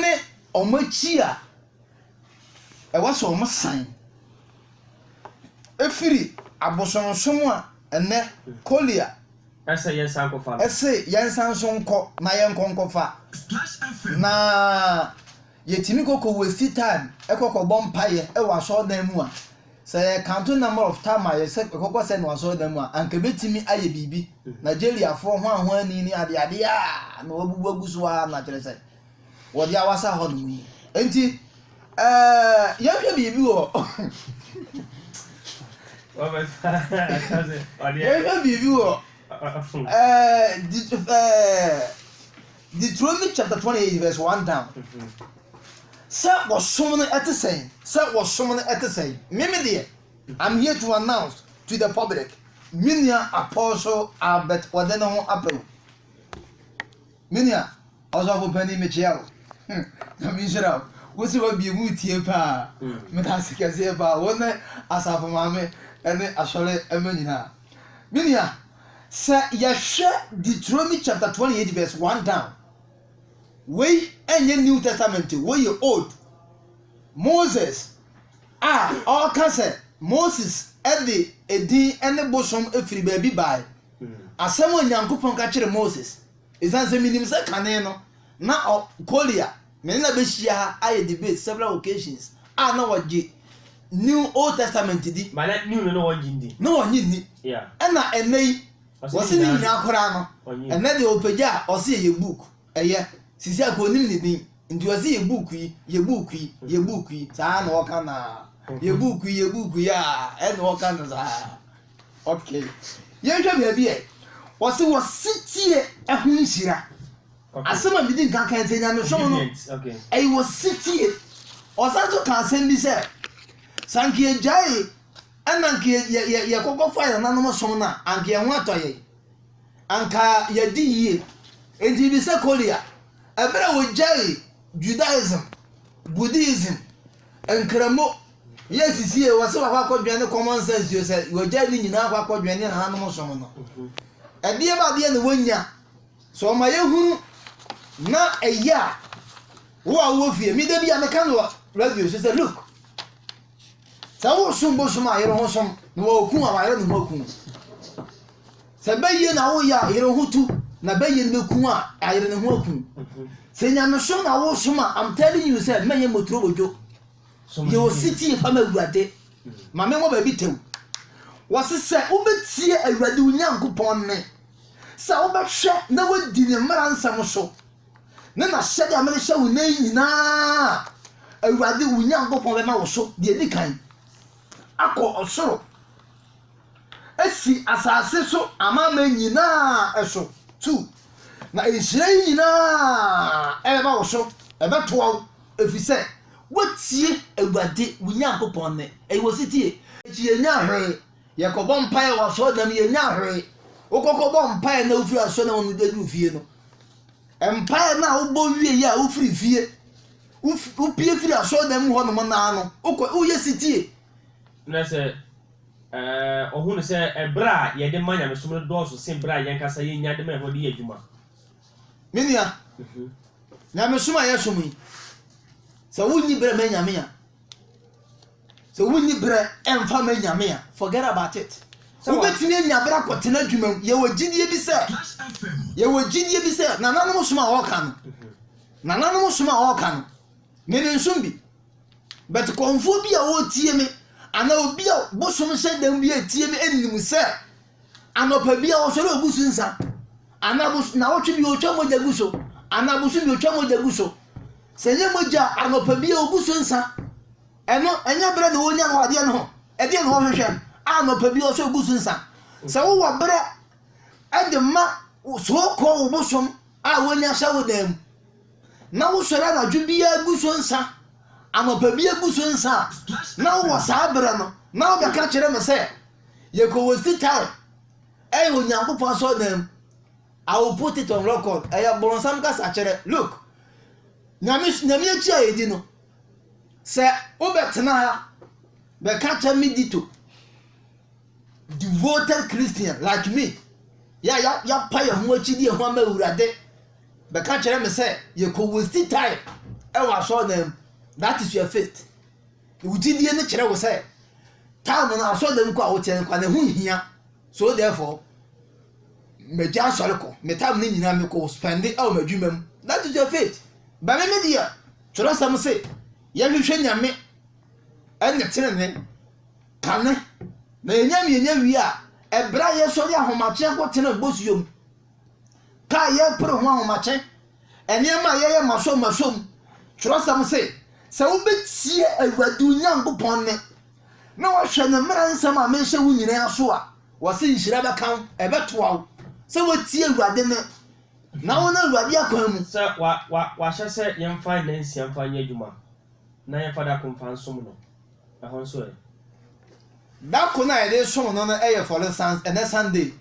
ne wɔn akyi a ɛwɔ sɛ wɔsan firi abosonsom a ɛnnɛ Korea ɛse yɛnsan so nkɔ na yɛnkɔ nkɔfa na Yɛtumi kɔ kɔ waste time kɔ kɔ bɔ mpaeɛ wɔ asɔredan mu a, sɛ yɛ count number of time a yɛsɛ yɛkɔ kɔ sɛn wɔ asɔredan mu a, anka ɛbɛtumi ayɛ biribi. Nigeriafoɔ hwanhwani ne adeɛ adeɛ a na wɔabubu agu so ara na kyerɛ sɛ wɔde awasa hɔ nom yi. Nti, ɛɛ yɛnhwɛ biribi wɔ yɛnhwɛ biribi wɔ ɛɛ ɛɛ. Deuteronomy chapter twenty eight verse one down. Sɛ wɔsom no ɛte sɛn? Sɛ wɔsom no ɛte sɛn? Mimi deɛ, I'm here to announce to the public. Me nua Apostle Albert wɔde ne ho apɛ o. Me nua ɔsɔfo panyin mekyia o. Hmm, na me nhyira o. Wosi hɔ bie mu tie paa. Hmm. Me da ase kɛseɛ paa. Wɔn ne asafo maame ɛne asɔre ɛmɛ nyinaa. Me nua. Sɛ yɛhwɛ Deuteronomy chapter 28 verse 1 down, wei ɛnyɛ New Testament, wei yɛ Old. Moses a ɔka sɛ Moses de edin ne bosom firi baabi bae. Asɛm a Onyankopɔn ka kyerɛ Moses. Esiane sɛ minim sɛ kane no na Collier ne no abehyia ha ayɛ debate several occasions a na wɔgye New Old Testament di, na wɔnnye nni, ɛna ɛnnɛ yi wɔse ne nyinaa koraa no, ɛnnɛ deɛ ɔpagya a ɔse yɛyɛ book, ɛyɛ, sisi akɔ ɔnim ne din, nti ɔse yɛ book yi, yɛ book yi, yɛ book yi, saa na ɔka no aa, yɛ book yi, yɛ book yi aa, ɛna ɔka no saa. Ok yɛnhwɛ baabi ɛ. Ɔse wɔ setie ɛho nhyira. Asɛm a medi nka kan sɛ nyamesom no ɛyɛ wɔ setie. Ɔsan nso ka asɛm bi sɛ sɛ anka yɛgyae ɛna anka yɛkɔkɔ fa yɛn nanom som no a anka yɛn ho atɔ yɛn. Anka yɛdi yie. Enti bibi sɛ Korea ɛberɛ a wɔgyae Judaism, Buddhism, nkramo, Yɛ sisi yɛ wɔse wakɔ akɔdwɛn ne common sense yɛ sɛ wɔagyae ne nyinaa akɔ akɔdwɛn ne nananom som no ɛdeɛ ba adeɛ na wɔnya sɛ ɔma yɛhunu na ɛyɛ a wo a wowɔ fie meda bi a meka no wɔ radio so sɛ look sɛ wosom bosom a yere ho som na wɔku a wayere ne ho aku sɛ bɛyie na woyɛ a yere ho tu na bɛyie no bɛku a ayere ne ho aku sɛ nyamesom na wosom a I'm telling you sɛ mɛyɛ motoro bodwo Yɛ osetie pa ma Awurade. Ma me nwɔ baabi tɛw. Wɔse sɛ wobɛtie Awurade wo Nyankopɔn nne, sɛ wobɛhwɛ na woadi ne mmara nsɛm so, ne n'ahyɛde a merehyɛ wo nnɛ yi nyinaa a, Awurade wo Nyankopɔn bɛma wo so deɛ ɛdi kan akɔ ɔsoro asi asase so amanaman nyinaa so. Two, na nhyira yi nyinaa ɛbɛba wo so, ɛbɛtoa wo. Ɛfiri sɛ woatie Awurade wo Nyankopɔn nne, ɛyɛ wɔ setie. Akyi yɛnnya hwee, yɛkɔbɔ mpaeɛ wɔ asɔredan mu yɛnnya hwee. Wokɔkɔbɔ mpaeɛ na wofiri asɔredan mu aduru fie no, mpaeɛ no a wobɔ wie yɛ a wofiri fie, wopie firi asɔredan mu hɔnom naa no, wokɔ woyɛ setie. Na sɛ ɔhunu sɛ ɛberɛ a yɛde ma nyamesom no dɔɔso sen berɛ a yɛn ankasa yɛnya de ma ɛhɔ de yɛ adwuma. Me nua, nyamesom a yɛsom yi, sɛ wonni berɛ ma Nyame a, sɛ wonni berɛ ɛmfa ma Nyame a, forget about it. wobɛtumi anya berɛ akɔtena adwuma mu. Yɛwɔ gyidie bi sɛ, yɛwɔ gyidie bi sɛ nananom som a wɔka no, nananom som a wɔka no, me ne nsom bi. But kɔnfoɔ bi a wɔtie me, anaa obi a bosom hyɛ dɛm bi a ɛtie me, ɛnim sɛ, Anɔpa bi a ɔsɔre ogu so nsa. Anaa abos nawɔtwe bi ɔtwa mogya gu so. Anaa abosom bi ɔtwa mogya gu so. Sɛ ɛnyɛ mogya a anɔpa bi a ɔgu so nsa. Ɛno ɛnyɛ berɛ na wɔnya no wɔ adeɛ no ho. Ɛdeɛ na wɔhwehwɛ a anɔpa bi ɔsɔre gu so nsa. Sɛ wowɔ berɛ de ma soɔ kɔ wo bosom a wɔnya hyɛ wo dan mu. na wosɔre anadwo biara gu so nsa, anɔpa biara gu so nsa a, na wowɔ saa berɛ no, na wobɛka kyerɛ me sɛ, yɛkɔ Westi Tae, ɛyɛ Onyankopɔn asɔredan mu. I will put it on record. Ɛyɛ bɔnsam kasakyerɛ. Look, nyame nyame akyi a yɛdi no, sɛ wobɛtena ha bɛka kyerɛ me dito, devoted Christian like me, yɛ a yɛapa yɛn ho akyidi yɛn ho ama Awurade, bɛka kyerɛ me sɛ yɛkɔ waste time wɔ asɔɔdan mu that is your faith wo gyidie no kyerɛ wo sɛ time no asɔɔdan mu kɔ a wokyɛ no kɔ ne ho hia so therefore magya asɔre kɔ me time no nyinaa mekɔ spɛnde wɔ m'adwuma mu that is your faith bɛme me deɛ twerɛsɛm se yɛhwehwɛ nyame ɛne tenene kane na yɛnya mmienya wie a ɛberɛ a yɛsɔre ahomakyeɛ kɔ tena bosuo mu ka a yɛrepere ho ahomakye, nneɛma a yɛyɛ masɔm masɔm. Twerɛsɛm se, sɛ wobɛtie Awurade wo Nyankopɔn nne na woahwɛ ne mmara nsɛm a merehyɛ wo nyinaa so a, wɔse nhyira bɛka wo, ɛbɛtoa wo sɛ woatie Awurade nne na wone Awurade akwan mu. Sɛ wɔahyɛ sɛ yɛmfa nnansia mfa nyɛ adwuma na yɛmfa da ko mfa nsom no, ɛhɔ nso ɛ? Da ko no a yɛde som no no yɛ Fɔre Sans, ɛnnɛ Sunday.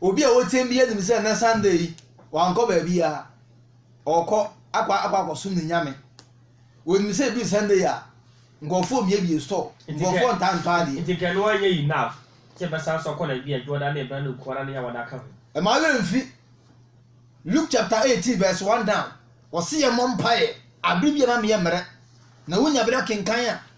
Obi a ɔteɛm biara nim sɛ nnɛ Sunday yi, wankɔ baabiara. Ɔrekɔ akɔ akɔ akɔsom ne Nyame. Wɔnim sɛ ɛduru Sunday a, nkurɔfoɔ mmiebie store, nkurɔfoɔ ntaa ntɔ adeɛ. Nti kɛ no anyɛ enough sɛ bɛsan nso akɔ na ebi a Dwoɔda ne Ebena ne Nkuana ne Yawada ka ho. Ɛma werɛ mfi Luke chapter 18 verse 1 down, wɔse yɛmmɔ mpaeɛ aberɛ biara na meyɛ mmerɛ. Na wonya berɛ kenkan a,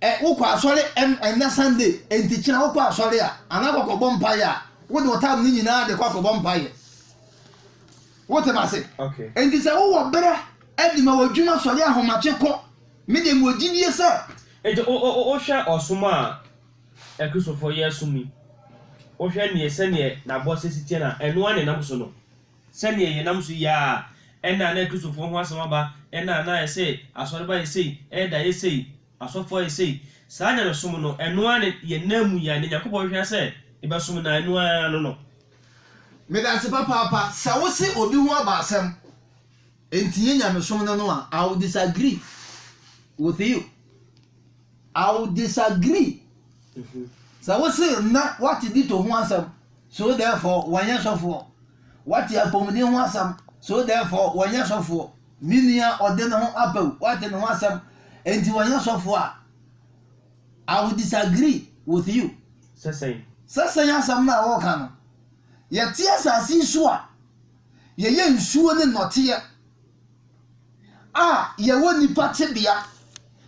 Ɛ wokɔ asɔre ɛ ɛnnɛ Sunday, enti kyena wokɔ asɔre a, anaa kɔkɔbɔ mpaeɛ a, wode wo time no nyinaa de kɔ akɔbɔ mpaeɛ. Wote me ase? Okay. Enti sɛ wowɔ berɛ de ma w'adwuma, sɔre ahomakye kɔ. Me deɛ mewɔ gyidie sɛ. Enti wo wo wohwɛ ɔsom a Akristofoɔ yɛ som yi, wohwɛ neɛ sɛdeɛ n'abɔseɛ si teɛ no a, ɛno ara na ɛnam so no? Sɛnea yɛnam so yi ara, ɛnna a na Kristofo ho asɛm aba, ɛnna a na ayɛ sei, asɔre ba yɛ sei, ɛɛda yɛ sei, asɔfo ayɛ sei. Saa nyamesom no, ɛno ara ne yɛn nna mu yi ara, nea Nyankopɔn hwehwɛ ara sɛ yɛbɛsom no ara, ɛno ara no no. Meda ase papaapa sɛ wo se obi ho aba asɛm nti yɛ nyamesom no no a, I will disagree with you. I will disagree. Sɛ wose na wate dito ho asɛm, so therefore wɔnyɛ sɔfoɔ. Wate apɔmuden ho asɛm, so therefore wɔnyɛ sɔfoɔ. Me nua ɔde ne ho apɛw, wate ne ho asɛm, enti wɔnyɛ sɔfoɔ a, I will disagree with you. Sɛ sɛn? Sɛ sɛn asɛm no a wɔreka no. Yɛte asase yi so a, yɛyɛ nsuo ne nnɔteɛ. a yɛwɔ nnipa tebea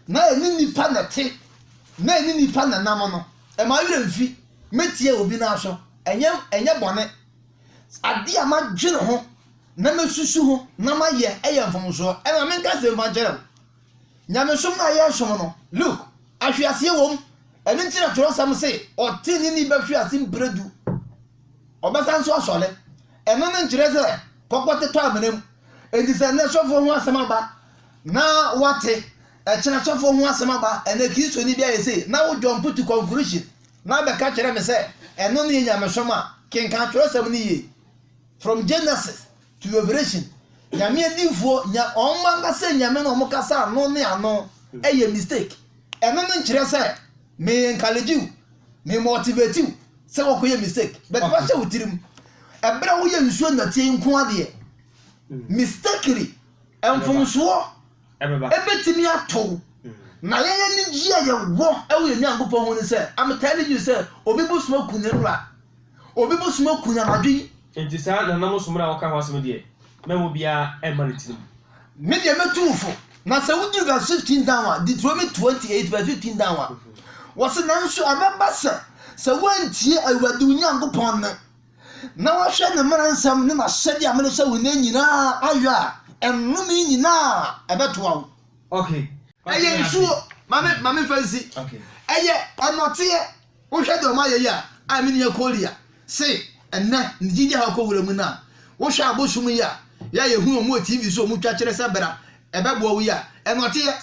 na ɛne nnipa na ɛte na ɛne nnipa na ɛnam no, ɛma wo werɛ mfi. Mɛtie obi no aso. Ɛnyɛ, ɛnyɛ bɔne. Adeɛ a madwene ho na mɛsusu ho na mayɛ yɛ mfomsoɔ. Ɛma menka asɛmpa nkyerɛ wo. Nyamesom no a yɛresom no, look, ahweaseɛ wom. Ɛno nti na twerɛsɛm se, ɔteneneeni bɛhwe ase mprɛ du. Ɔbɛsan nso asɔre. Ɛno no nkyerɛ sɛ kɔkɔte tɔ amena mu. Enti sɛ ɛnnɛ sɔfoɔ ho asɛm aba na woate, ɛkyena sɔfoɔ ho asɛm aba, ɛnɛ Kristoni bi ayɛ sei, na wo jump to conclusion na bɛka kyerɛ me sɛ ɛno ne yɛ nyamesom a, kenkan twerɛsɛm no yie. From Genesis to Revelation, Nyame adiyifoɔ, nya, wɔn ankasa nyame no wɔn kasa ano ne ano, ɛyɛ mistake. Ɛno no nkyerɛ sɛ. me encourage wo me motivate wo sɛ wɔkɔ yɛ mistake but okay. wahyɛ wo tirim ɛberɛ a woyɛ nsuo nnɔteɛ nko adeɛ mm. mistakely mfomsoɔ ɛbɛtumi ato wo mm. na yɛyɛ ne gye a yɛwɔ ɛwɔ yɛ nyankopɔn ho ne sɛ I'm telling you sɛ obi bosom aku ne wura Obi bosom aku no anadwo yi. Enti saa nananom som no a wɔka ho asɛm no deɛ, mɛma obiara mma ne tirim. Me deɛ mɛtu wo fo. Na sɛ woduru verse fifteen down a, Deuteronomy twenty eight verse fifteen down a, wɔsi nanso ɛbɛba sɛ, sɛ woantie Awurade wo Nyankopɔn nne, na woahwɛ ne mmara nsɛm ne n'ahyɛde a merehyɛ wo nnɛ nyinaa ayɛ a, nnome yi nyinaa ɛbɛtoa wo. Okay. Ɛyɛ nsuo. Ma me, ma me nfa nsi. Okay. Ɛyɛ nnɔteɛ. Wohwɛ deɛ wɔayɛ yi a, a me nua Korea se ɛnnɛ ne gyidie haw kɔ wura mu no a, wohwɛ abosom yi a yɛ a yɛhu wɔn wɔ TV so a wɔtwa kyerɛ sɛ bra ɛbɛboa wo yi a, ɛnɔteɛ.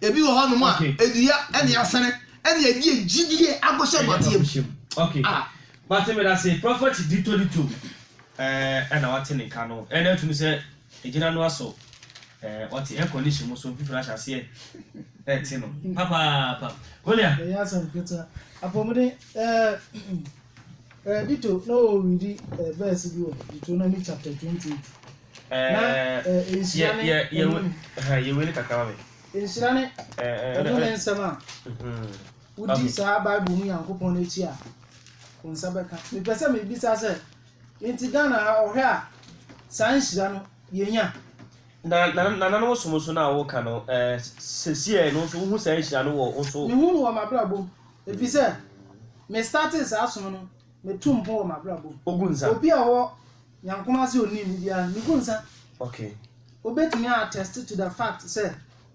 Ebi wɔ hɔnom a, dua ne asene na ɛde yɛ gyidie abɔhyɛ nnɔteɛ mu. A. Wate me da se prophet Dito Dito eh ɛna wate ne nka no ɛna atumi sɛ Egyina no aso eh, ɔte air condition mu so mfifiri ahyɛ aseɛ ɛte no papaapa. Golia. Ɛyɛ asɛm ketewa. Apɔmuden ɛɛ Dito na ɔwɔ redi bɛɛsi bi wɔ Deuteronomy chapter twenty eight. Na nhyira ne ɛnum. Yɛ wei ne kakra ma mi. Nhyira ne ɛno ne nsɛm a wodi saa Bible mu Nyankopɔn n'akyi a wɔn nsa bɛka. Mepɛ sɛ mebisa sɛ Enti Ghana a ɔhwɛ a saa nhyira no yɛnya. Na nananom ɔsom nso no a woka no eh, sesie a ɛno nso wohu saa nhyira no wɔ wo nso? Mehu no wɔ m'abrabɔ mu ɛfiri sɛ me startee saa som no me tu mpon wɔ m'abrabɔ mu. Ogu nsa? Obi a ɔwɔ Nyankom ase ɔnim me biara no me gu nsa. Okay. Obetumi a attest to the fact sɛ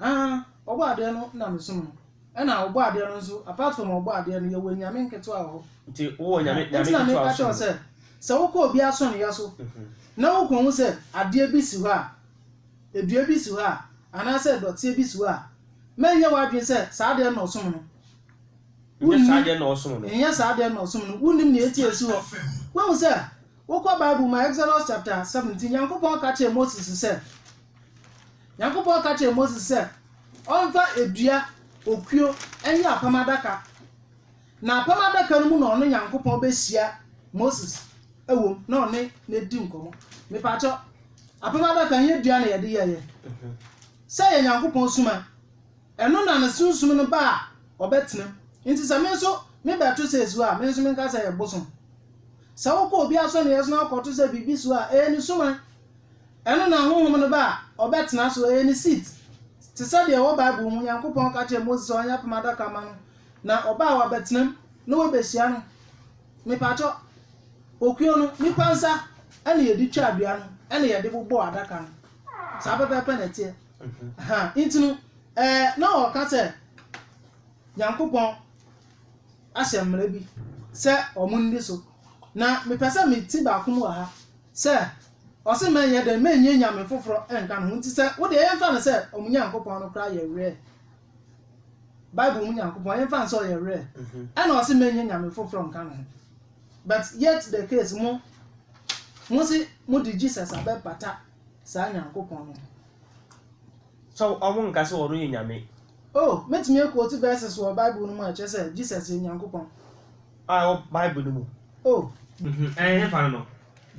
Aah ɔbɔ adeɛ no na me som no ɛna ɔbɔ adeɛ no nso apart from ɔbɔ adeɛ no yɛwɔ anyame nketewa wɔ hɔ Nti wowɔ nyame nyame nti na ketewa meka kyerɛ wo som. sɛ sɛ wokɔ obi asɔneeɛ so na wokɔhu sɛ adeɛ bi si hɔ a ɛdua bi si hɔ a anaasɛ dɔteɛ bi si hɔ a mɛnyɛ w'adwene sɛ saa adeɛ no na ɔsom no Nyɛ saa adeɛ no na ɔsom no. nyɛ saa adeɛ no na ɔsom no wonnim nea ɛti a ɛsi hɔ woahu sɛ wokɔ bible mu a Exodus chapter 17 Nyankopɔn ka kyerɛɛ Moses sɛ Nyankopɔn ka kyerɛɛ Moses sɛ ɔmfa dua okuo nyɛ apam adaka, na apam adaka no mu na ɔno Nyankopɔn bɛhyia Moses wom na ɔne no adi nkɔmmɔ. Mepaakyɛ, apam adaka nyɛ dua na yɛde yɛeɛ. Sɛ yɛ Nyankopɔn suma, ɛno na ne sunsum no ba a ɔbɛtenam. Nti sɛ me nso mebɛto sɛ ɛsuo a, me nso menka sɛ ɛyɛ bosom. Sɛ wokɔ obi asɔneɛ so na wokɔto sɛ biribi suo a, ɛyɛ ne suman. Ɛno na honhom no ba a ɔbɛtena so, ɛyɛ ne seat, te sɛ deɛ ɛwɔ Bible mu, Nyankopɔn ka kyerɛɛ Mose sɛ ɔnyɛ apam adaka ma no, na ɔba a wabɛtena mu na wabehyia no. Mepakyɛ, okuo no, nipa nsa ɛna yɛde twaa dua no ɛna yɛde bobɔɔ adaka no. Saa pɛpɛɛpɛ na ɛteɛ. Ha, nti no, ɛɛ, na ɔka sɛ Nyankopɔn ahyɛ mmara bi sɛ wɔn nni so. Na mepɛ sɛ me ti baako mu wɔ ha, Sɛ ɔse mɛnyɛ dɛn mɛnyi anyame foforɔ nka ne ho nti sɛ wodeɛ yɛmfa no sɛ ɔmo Nyankopɔn no koraa yɛ werɛ Bible mu Nyankopɔn yɛmfa no sɛ ɔyɛ werɛ ɛna ɔse mɛnyi anyame foforɔ nka ne ho but yet the case mo mose mode Jesus abɛpata saa Nyankopɔn no ho. So ɔmo nka sɛ ɔno yɛ Nyame? Oh, mɛtumi a quote verses wɔ Bible no mu a ɛkyerɛ sɛ Jesus yɛ Nyankopɔn a ɛwɔ Bible no mu. Oh. Mhm, ɛhefa no no?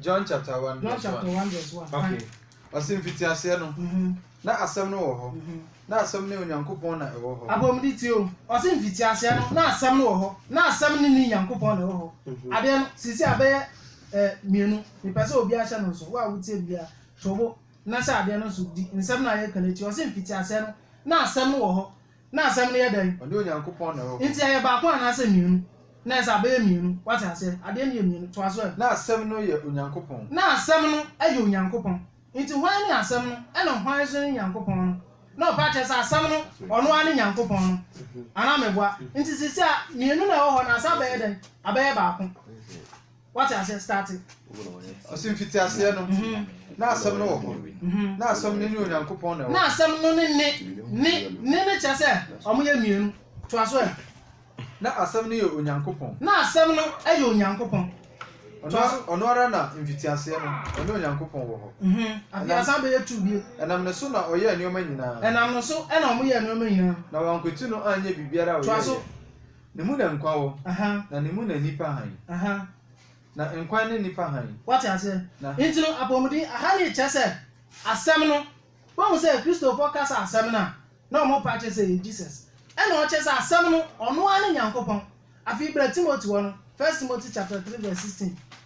John chapter one John verse chapter one. one verse one. Okay. Kan. Ɔse mfitiaseɛ no, Mhm. na Asɛm no wɔ hɔ, Mhm. na Asɛm ne Onyankopɔn na ɛwɔ hɔ. Apɔmuden tie o. Ɔse mfitiaseɛ no, na Asɛm no wɔ hɔ, na Asɛm ne ne Nyankopɔn na ɛwɔ hɔ. Mhm. Adeɛ no, seesei abɛyɛ eh, mmienu. Mepɛ sɛ obiara hyɛ no nso. Wo a wotie me biara, to wo bo na hyɛ adeɛ no nso. Di nsɛm no a yɛreka no akyi. Ɔse mfitiaseɛ no, na Asɛm no wɔ hɔ, Na asɛm no yɛ dɛn? Ɔne Onyankopɔn na ɛwɔ hɔ. Enti ɛyɛ baako anaasɛ mmienu? Na ɛsɛ sɛ abɛyɛ mmienu. Woate aseɛ? Adeɛ no yɛ mmienu. Toa so ɛ. Na Asɛm no yɛ Onyankopɔn. Na Asɛm no yɛ Onyankopɔn. Enti hwan ne Asɛm no, ɛna hwan nso ne Nyankopɔn no? Na ɔpɛ akyerɛ sɛ Asɛm no, ɔno ara ne Nyankopɔn no. Anaa meboa? Enti seesei mmienu na ɛwɔ hɔ, na asɛ abɛyɛ dɛn? Abɛyɛ baako. wate aseɛ starte ɔse mfiti aseɛ no mhm. na asɛm no wɔ hɔ mhm. na asɛm no ne onyankopɔn na ɛwɔ na asɛm no ne ne ne ne ne kyerɛ sɛ ɔmo yɛ mmienu toa so ɛ na asɛm no yɛ onyankopɔn na asɛm no yɛ onyankopɔn ɔno ara na mfitiaseɛ no ɔne onyankopɔn wɔ hɔ mhm. afiasa bɛyɛ tu bio ɛnam ne so na ɔyɛɛ nneɛma nyinaa ɛnam ne so ɛna ɔmo yɛɛ nneɛma nyinaa na wankwati no anyɛ biribiara a ɔyɛeɛ Ne mu na nkwa wɔ. Na ne mu na nnipa hann. Na nkwa ne nnipa hann. Woate aseɛ? Na. Enti no, apɔmuden, ahane kyerɛ sɛ asɛm no. Woahu sɛ Kristofoɔ ka sɛ asɛm no a, na wɔn pɛ akyerɛ sɛ ɛyɛ Jesus. Ɛnna ɔkyerɛ sɛ asɛm no, ɔno ara ne Nyankopɔn. Afei bra Timothy hɔ no, First Timothy chapter three verse sixteen.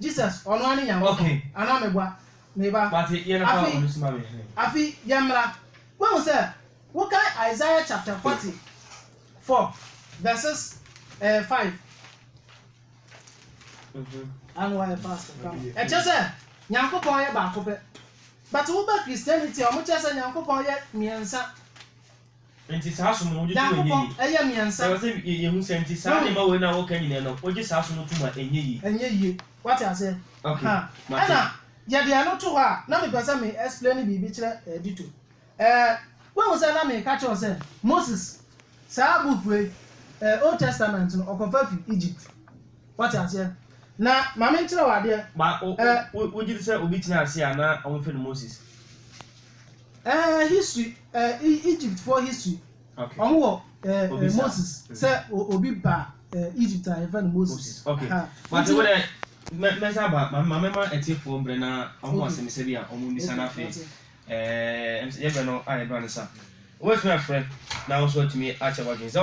Jesus, ɔno ara ne Nyankopɔn, anaa meboa? Me ba, afe yi, afe yi, yɛmmra. Woahu sɛ, wokan Isaiah chapter forty four verses ɛɛ five. Ano ayɛ fast kama. Ɛkyɛ sɛ Nyankopɔn yɛ baako pɛ. But woba Christianity a, wɔkyerɛ sɛ Nyankopɔn yɛ mmiɛnsa. Enti saa som no wogye tom a ɛnyɛ yie. Ɛyɛ mmiɛnsa. Ɛwɔ sɛ yɛhu sɛ nti saa nneɛma wei no a wɔka nyinaa no wogye saa som no tom a ɛnyɛ yie. Ɛnyɛ yie. Wate aseɛ? Okay. Mate. Ɛna yɛde ɛno to hɔ a na mepɛ sɛ me explaini biribi kyerɛ eh, Dito. Eh, woahu sɛ na meka kyerɛ wo sɛ Moses saa book wei, eh, Old Testament no ɔkɔfa fi Egypt. Wate aseɛ? Na ma menkyerɛ wo adeɛ. Ba, o, o, eh, wo, wogye di sɛ obi tenaa ase a na wɔfrɛ no Moses? Eh history eh Egypt foɔ history okay. Ɔmo wɔ eh, eh Moses mm. sɛ obi ba eh, Egypt a yɛfrɛ no Moses. Okay. Mate wo dɛ mɛsa ba ma mɛma atiefoɔ mbrɛ na ɔmo asɛmisa bi a ɔmo mbisa no afei eh, yɛbrɛ no a yɛbrɛ no sa. Wobɛtumi afrɛ na wo nso atumi akyɛ w'adwene sɛ